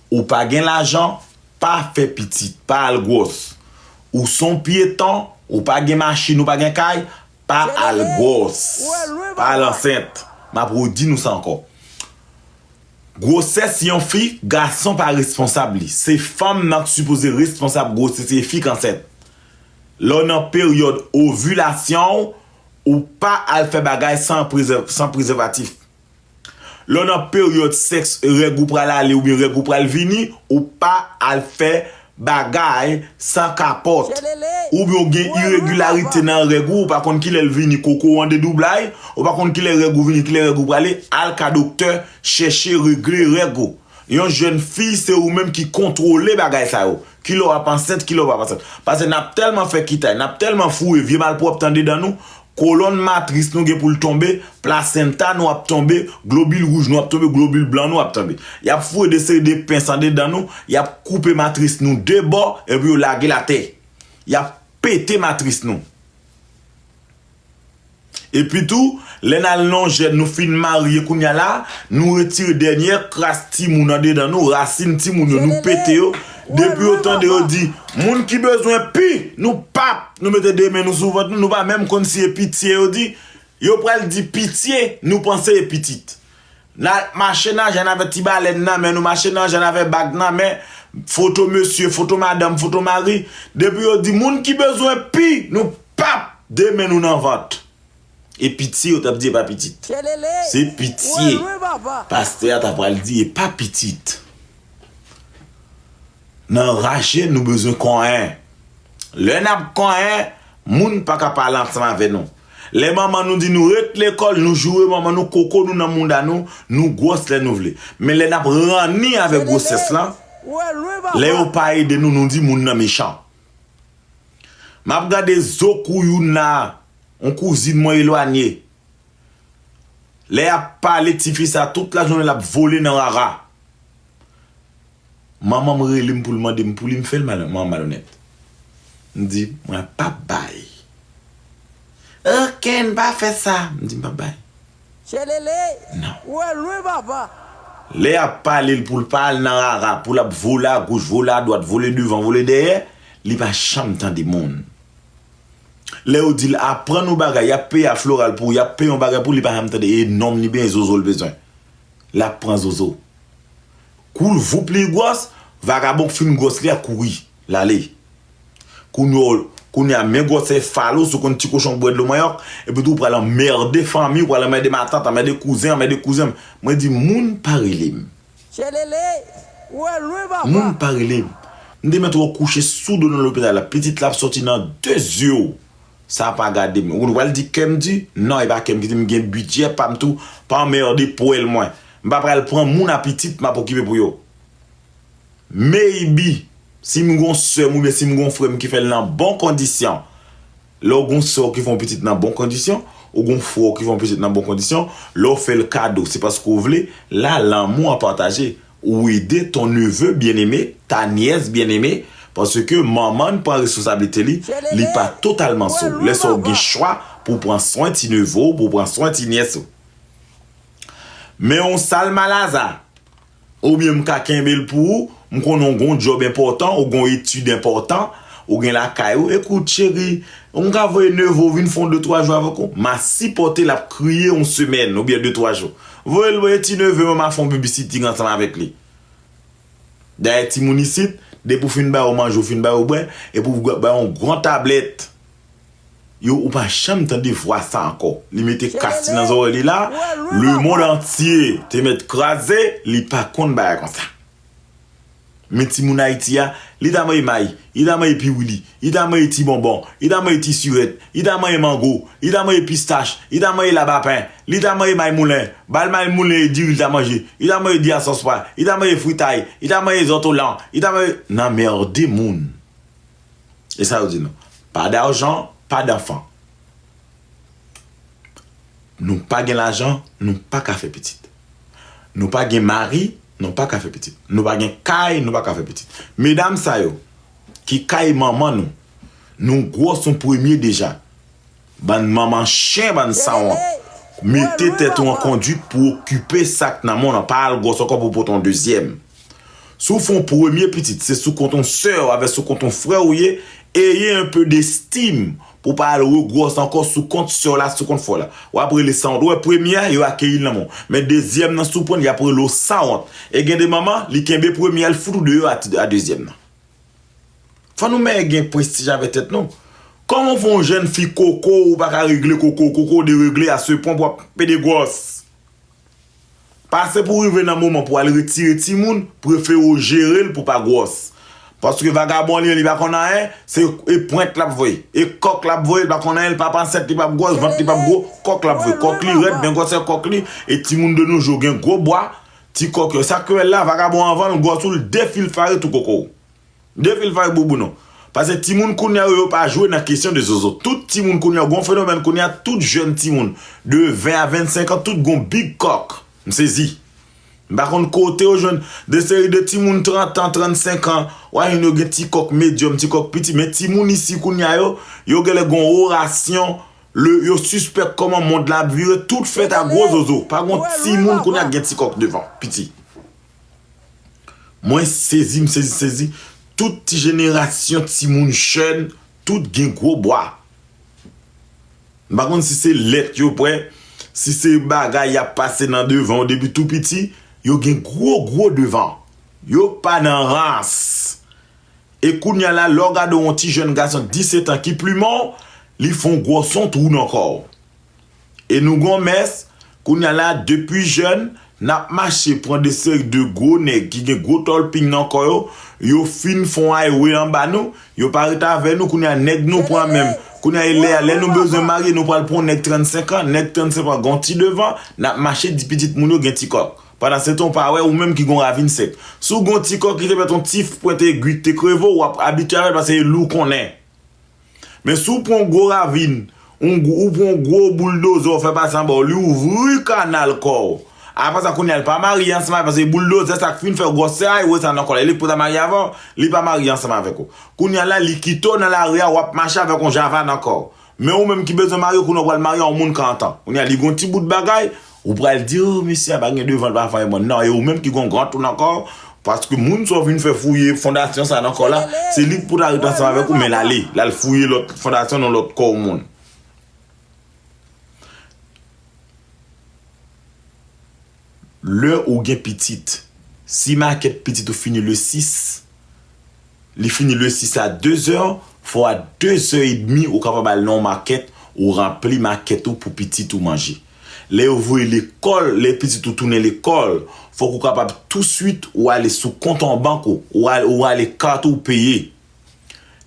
Ou pa gen lajan, pa fè pitit, pa al gwòs. Ou son pyeton, ou pa gen machin, ou pa gen kay, pa al gwòs. Pa al ansent. M ap redi nou sa ankò. Gwosès yon fi, gason pa responsab li. Se fanm nan ki sipoze responsab gwosès e fi k ansent. Lè w nan peryòd ovilasyon w, ou pa al fè bagay san prezèvatif. Lè w nan peryòd sèks règ ou pral ale oubyen règ ou pral vini ou pa al fè bagay san kapòt oubyen ou gen iregilarite nan règ ou ou pa konn kilè l vini koko w an dedoublay ou pa konn kilè règ ou vini kilè règ ou prale al ka doktè chèche regle règ ou yon jèn fi se ou menm ki kontwole bagay sa yo kilè w ap ansent kilè w pap ansent pase n ap tèlman fè kitay n ap tèlman foure vye malpwòpte andedan nou Kolòn matris nou gen pou l tonbe, plasenta nou ap tonbe, globil wouj nou ap tonbe, globil blan nou ap tonbe. Y ap foure de seri de pens andedan nou, y ap koupe matris nou de bò, epi yo lage l atè. Y ap pete matris nou. Epi tou, lè n al nan jèn, nou fin marye kounye a la, nou retire dènyè kras timoun andedan nou, rasin timoun yo, nou pete yo, Depi yo tande yo di, moun ki bezwen pu nou pap, nou mete 2 men nou sou vant nou, nou pa menm konn si e pitye yo di, yo pral di pitye, nou panse e pitit. Na mache nan jann avè ti balèn nan men, nou mache nan jann avè bag nan men, foto mesye, foto madanm, foto mari, depi yo di moun ki bezwen pu nou pap, 2 men nou nan vant. E pitye yo tap di epa pitit. Se pitye pastè a ta pral di epa pitit. Nan raje nou bezwen konyen. Lè nap konyen moun paka pale ansanm avè nou. Lè manman nou di nou ret lekòl nou joure manman nou koko nou nan mouda nou, nou gwòs lè nou vle. Men lè nap ranni avèk gwosès lan, lè yo pa ede nou nou di moun nan mechan. M ap gade zo kou youn la a, yon kouzin mwen elwanye. Lè y ap pale tifi sa a tout lajounen l ap vole nan rara. Manman m rele m pou l mande m pou li m fè l malonèt. M di, mwen pap bay. Ok, m pa fè sa. M di, m pap bay. Tchelele! Ou wè lwen papa! Lè y ap pale l pou l pa al nan rara, pou l ap vole agoch, vole adwat, vole devan, vole dèyè, li pa janm tande moun. Lè yo di l aprann yon bagay, y ap peye a floral pou ou, y ap peye yon bagay pou ou, li pa janm tande e nonm li benyen zozo l bezwen. L ap pran zozo. Kou l voup li gwòs, vagabon k fin gwòs li a kouri. Lale. Kounye w, kounye a men gwòt sè fal ou sou konn ti kochon k bwè dlo manyòk, epi tou ou pral anmède fanmi, ou pral anmède matant, anmède kouzen, anmède kouzen. Mwen di moun pa rele m. Chelele, ou al lwen papa. Moun pa rele m. M te mèt wè w kouche sou do nan lopital la, pitit la ap sòti nan de zye w. Sa pa gade m. Ou konn ou pral di kè m di? Non, e pa kè m ki di, m gen bidjè pa m tou, pa anmède pwèl mwen. M pa pral pran moun a pitit m ap okipe pou yo. Maybe si m gon sè m oubyen si m gon frè m ki fè l nan bon kondisyon. Lè w gon sè w ki fè yon pitit nan bon kondisyon, ou gon frè w ki fè yon pitit nan bon kondisyon, lè w fè l kado se paske w vle, la lanmou an pataje. Ou ede ton neveu bien aimé, ta nièce bien aimée, paske manman n pran responsablite li, li pa totalman sou w. Lè sa w gen chwa pou w pran swen ti neveu w, pou w pran swen ti nièce ou. Men w sal malaza, Oubyen m ka kenbe l pou ou, m konnen w gon djòb enpòtan, ou gon etid enpòtan, ou gen lakay ou, ekout cheri, m ka voye neve w vin fon de twa jou avèk ou? M a sipòte l ap kriye yon semèn oubyen de twa jou. Voye l voye ti neve mwen m a fon bibisiting ansanm avèk li. Dayè timoun isit, depi w fin ba yo manje, w fin ba yo bwè, epi w bay yon gran tablèt. Yo ou pa janm tande vwa sa ankò li mete kas li nan zòrèy li la le mond antye te mèt kraze li pa konn bagay konsa men ti moun ayiti a li ta manje may li ta manje piwili li ta manje ti bonbon li ta manje ti sirèt li ta manje mango li ta manje pistach li ta manje labapen li ta manje may moulen bal may moulen e diri li ta manje li ta manje di a sòs pwa li ta manje fritay li ta manje zòtolan li ta manje nan merde moun. E sa yo di nou? Pas d'argent, pas d'enfants. Nou pa gen lajan, nou pa ka fè pitit. Nou pa gen mari, nou pa ka fè pitit. Nou pa gen kay, nou pa ka fè pitit. Medam sa yo, ki kay manman nou, nou gwòs nou premye deja. Bann manman chen bann sanwont. Mete tèt ou an konduit pou okipe sak nan men w lan pa al gwòs ankò pou pote yon dezyèm. Si w fè yon premye pitit se sou kont yon sè w avè sou kont yon frè w ye eye yon peu destim pou w pa al regwòs ankò sou kont sè w la sou kont frè w la wap rele sanwont ou wè premye a yo akeyi l nan men w men dezyèm nan si w pran l yap rele w sanwont e gen de manman li kenbe premye a li fout ou deyò a dezyèm nan. Fò nou mèye gen prestij avè tèt nou. Kòman pou yon jèn fi koko ou pa ka regle koko w, koko w deregle a se pwen pou ap pede gwòs. Pase pou rive nan moman pou al retire timoun, prefere w jere l pou pa gwòs. Paske vagabon li menm li pa konn anyen, se e pwent l ap voye, e kòk l ap voye, li pa konn anyen, li p ap ansent, li p ap gwòs, vant li p ap gwo, kòk l ap voye. Kòk li rèd, gen gwòsè kòk li, e timoun de nou jou gen gwo bwa. Ti kòk yo sa kpl la vagabon anvanl gwòs ou l defilfare tou koko w defilfare bouboun ou pase timoun kounya yo yo pa jwe nan kesyon de zozo tout timoun kounya gon fenomèn kounya tout jèn timoun de 20 a 25 an tout gon big kòk m sezi m pa konn kote yo jwenn de seri de timoun 30 an 35 an wa jwenn yo gen ti kòk medyòm ti kòk piti men timoun isi kounya yo yo genlè gon orasyon Le yo sispèk koman mond la ap vire tout fèt a gwo zozo pa gon ti moun kounye a ki gen ti kòk devan piti mwen sezi m sezi sezi tout ti jenerasyon ti moun jèn tout gen gwo bwa m pa konn si se lèt yo pwè si se bagay y ap pase nan devan yo depi tou piti yo gen gwo gwo devan yo pa nan rans. E kounya la lè w gade yon ti jèn gason 17 an ki plumen w, li fè yon gwo son twou nan kò w. E nou gen yon mès, kounya la depi jèn, n ap mache pran de seri de gwo nèg ki gen gwo tòlping nan kò yo, yo fin fè yon ayewe anba nou, yo pa ret avè nou, kounya nèg nou pran menm, kounya e lè a, lè nou bezwen marye nou pral pran yon nèg 35 an, nèg 35 an gen yon ti devan, n ap mache di pitit moun yo gen ti kòk. Pandansetan ou pa wè ou menm ki gen yon ravin sèk. Si w gen yon ti kò ki te fèt yon ti pwent egui ki te kreve w, w ap abitye avè l paske e lou kon nen. Men si w pran yon gwo ravin, yon ou pran yon gwo bouldozè ou fè pase anba w, li ouvri kanal kò w. Apre sa kounye a li pa marye ansanm avè w paske bouldozè sa ki fin fè gwòsè a, yo wè sa nan kò la. Li pou ta marye avè w, li pa marye ansanm avèk ou. Kounye a la li kite w nan lari a, w ap mache avèk yon java nan kò w. Men ou menm ki bezwen marye kounye a ou pral marye yon moun 40 ans kounye a li gen yon ti bout bagay ou pral di oh mesye a pa gen devan li pa fè anyen nan e ou menm ki gen yon gran tou nan kò w paske moun sa w vin fè fouye fondasyon sa nan kò w la se li ki pou ta ret ansanm avèk ou men lale lal fouye lòt fondasyon nan lòt kò w moun. lè ou gen pitit. Si makèt pitit ou fini le 6, li fini le 6 a 2 zè, fò a 2 zè edmi ou kapab al nan yon makèt, ou ranpli makèt ou pou pitit ou manje. Lè yo voye lekòl, lè pitit ou tounen lekòl, fòk ou kapab touswit ou ale sou kont an bank ou, ou rale kat ou peye.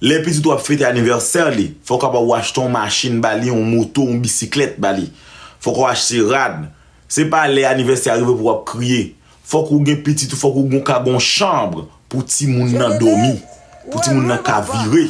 Lè pitit ou ap fete anivèsè li, fò w kapab ou achte yon machin ba li, yon moto, yon bisiklèt ba li. Fò ou achte rad. Se pa lè anivèsè a rive pou wap kriye. Fò ou gen pitit ou, fò ou gen yon ka gen yon chanbre pou timoun nan dòmi, pou timoun nan ka vire.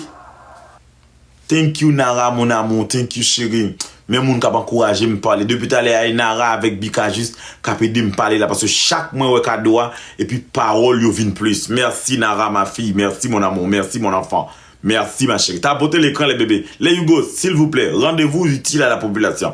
Thank you Nara mon amour thank you cheri men moun kap ankouraje m pale depi talè a e Nara avèk Bika jis kap edem pale la paske chak mwen wè kado a epi pawòl yo vin plis merci Nara ma fille merci mon amour merci mon enfant merci ma chérie tapote lekran le bebe le yugo silvouplè rendez-vous utile à la population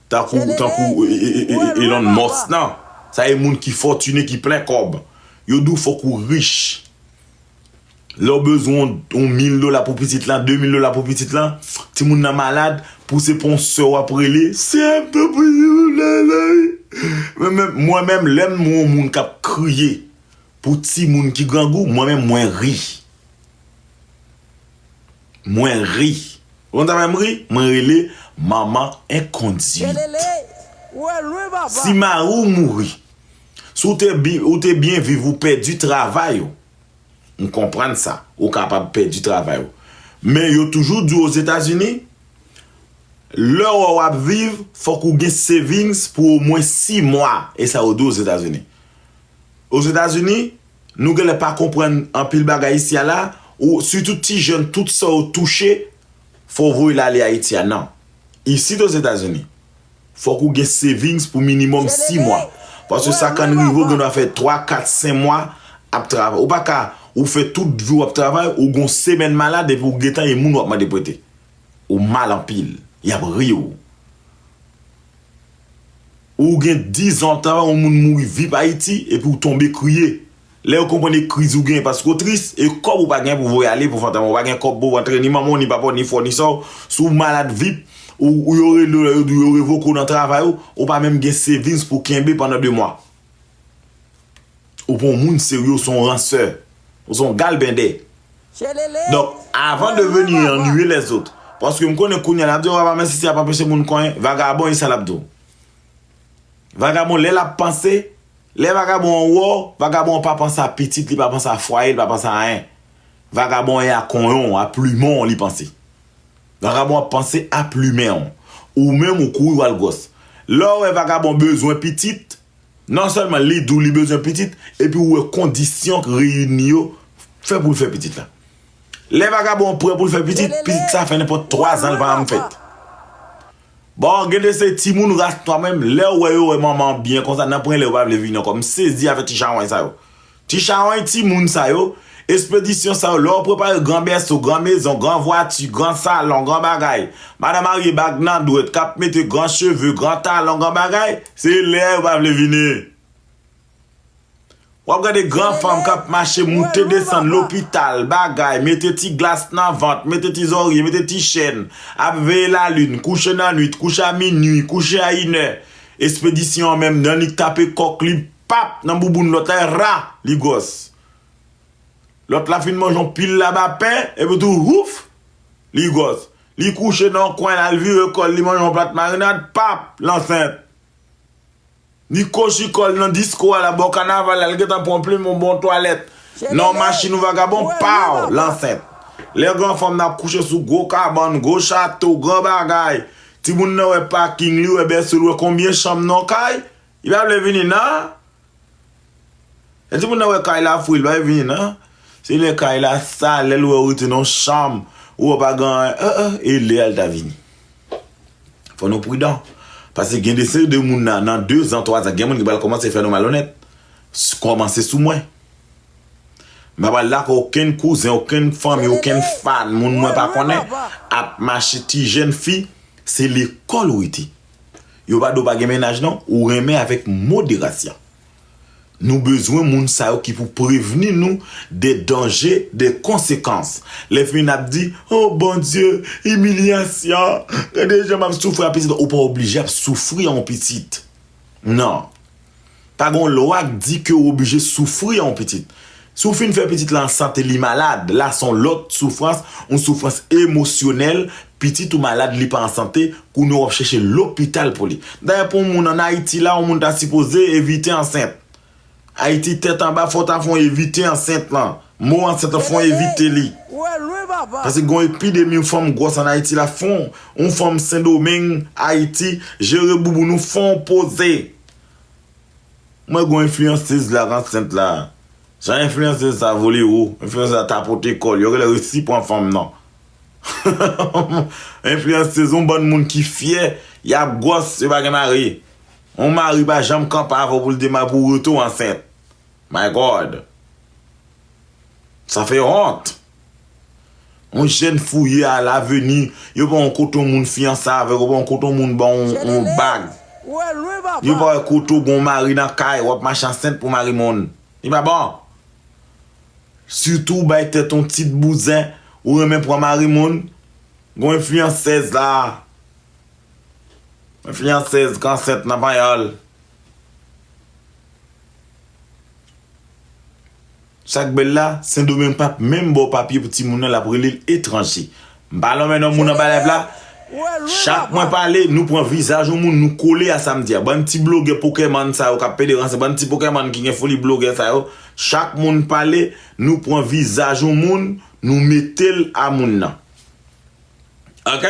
Tankou tankou Elon Musk nan. Sa e moun ki fòtine ki plen kòb. Yo di w fòk ou rich. Lè w bezwen yon mil dola pou pitit lan, de mil dola pou pitit lan, timoun nan malad, pou se pa yon sè w ap rele, sè m te priye pou Lalaï. Mwen menm, mwen menm lè m wè yon moun k ap kriye pou timoun ki grangou, mwen menm mwen ri. Mwen ri. Ou konn sa fè m ri? Mwen rele manman enkonduit. Si mari w mouri. Si w te byen viv ou pèdi travay ou. M konprann sa. Ou kapab pèdi travay ou. Men yo toujou di w Ozetazini, lè ou ap viv fòk ou gen savings pou omwen 6 mwa. E sa yo di w Ozetazini. Ozetazini, Nou genlè pa konprann anpil bagay isi a la ou sitou ti jèn tout sa yo touche fò w voye l ale Ayiti a nan. Isit Ozetazini fòk ou gen savings pou minimòm 6 mwa paske sa kann rive ou gendwa fè 3, 4, 5 mwa ap travay ou pa ka ou fè tout vi w ap travay ou gon semèn malad epi ou gentan e moun w ap mande prete ou mal anpil y ap ri w. Ou gen 10 ans ta yon moun mouri vip ayiti epi ou tonbe kriye lè yo konprann e kriz ou gen paske ou tris e kòb ou pa gen pou voye ale pou fantan ou pa gen kòb pouw antre ni manman w ni papa w ni frè w ni sè w si w malad vip ou yo rele w lè yo di w yo revoke w nan travay ou ou pa menm gen savings pou kenbe pandan 2 mwa. Ou pa yon moun serye, ou se yon ransè. Ou se yon galbende. Donk, avan de veni annuye lèzot. Paske m konnen kounye a l ap di w apa mèsi si a pa anpeche moun konyen. Vagabon e sa l ap di w. Vagabon lè l ap panse, lè vagabon an wè w, vagabon an pa panse a pitit li, pa panse a fwaye l, pa panse a anyen. Vagabon an e a konyen w, a plumen w li panse. Vagabon ap panse a plumen w. Ou menm ou kouri w al gwòs. Lè w wè vagabon bezwen pitit, non sèlman li di w li bezwen pitit, epi ou wè kondisyon k reyini yo fè pou l fè pitit la. Lè vagabon prè pou l fè pitit, pitit sa fè nenpòt twazan l pa janm fèt. Bon, gen de se timoun ras nwa menm, lè w wè yo wè manman an byen konsa, nan prenlè yo pa vle vini ankò. M sezi avè ti chawony sa yo. Ti chawony ti moun sa yo, espedisyon sa yo lè w prepare gran bèso, gran mezon, gran vwati, gran salon, gran bagay, madan marye bag nan dwèt k ap mete gran cheve, gran talon, gran bagay, se lè a yo pa vle vini. W ap gade gran fanm k ap mache moute desann lopital, bagay, mete ti glas nan vant, mete ti zorye, mete ti chèn, ap veye lalin, kouche nan nwit, kouche a minui, kouche a inè, espedisyon an menm nan li k tape kòk li Pap nan bouboun lòt la ra li gwòs. Lòt la fin manje yon pil laba pen epi tou huuff li gwòs. Li kouche nan yon kwen la li vire kòl li manje yon plat marinad pap l ansent. Li kochi kòl nan disko a la bò kanaval la li gentan pran yon plim yon bon twalèt nan yon machin yon vagabon paw l ansent. Lè gran fanm nan ap kouche sou gwo kabann, gwo chato, gran bagay, timoun nan wè paking li wè bèso li wè konbyen chanm nan yon kay, Li pa vle vini nan. Lè timoun nan wè kay la fou li pa vle vini nan. Se lè kay la sal, lè l wè ou rete nan yon chanm, ou wè pa gen anyen, eh eh, e lè a li ta vini. Fò nou pridan. Pase gen de se de moun nan, nan de zan, twa zan, gen moun ki pral kòmanse fè nou malonèt. Kòmanse sou mwen. M pa pral dakò okenn kouzen, okenn fanmi, okenn fan, moun mwen pa konnen ap mache ti jenn fi, se lekòl ou rete. Yo pa do pa gen mennaj non ou renmen avèk moderasyon. Nou bezwen moun sa yo ki pou prevni nou de danje, de konsekans. Lè finn ap di, oh Bondye, imilyasyon, gade jan map soufri a pitit ou pa oblije ap soufri an pitit. Non. Pa gen yon lwa k di ke w oblije soufri an w pitit. Si w fin fè pitit la an sante li malad, la se yon lòt soufrans, yon soufrans emosyonèl, pitit ou malad li pa an sante, kounye a w ap chèche lopital pou li. Dayè pou yon moun an Ayiti la, yon moun ta sipoze evite ansent. Ayiti tèt anba fò w ta fè yon evite ansent lan. Mo an santan fon evite li. Pase gon epidemi yon fanm gwòs an Ayiti la fon yon fanm sendomeng Ayiti jere bouboun ou fon poze. M wè gon enfliyansez la k ansent la. Jan enfliyansez sa vole wo. Enfliyansez la tapote kò l. Yo genlè resi pran fanm nan. Enfliyansez yon bann moun ki fyè yap gwòs yo pa gen mari. Yon mari pa janm kanpe avè w pou l di pou w rete w ansent. My God! Sa fè wont! Yon jèn fouye a laveni, yo pa wè kote yon moun fiyanse avè w, yo pa wè kote yon moun ba w yon bag. Yo pa wè kote w gen yon mari nan kay, w ap mache ansent pou mari moun. Li pa bon! Sitou w bay tèt w yon tit bouzen, ou renmen pran mari moun, gen yon enfiyansèz la, enfiyansèz ki ansent nan panyòl. Sak bèl la sendomeng pap menm baw papye pou timoun nan lap relel etranje m pa lonmen non moun anba live la chak mwen pale nou pran vizaj yon moun nou kole a sam di a bann ti blogè pokèmann sa yo kap pede ranse bann ti pokèmann ki gen foli blogè sa yo chak moun pale nou pran vizaj yon moun nou metel a moun nan ok.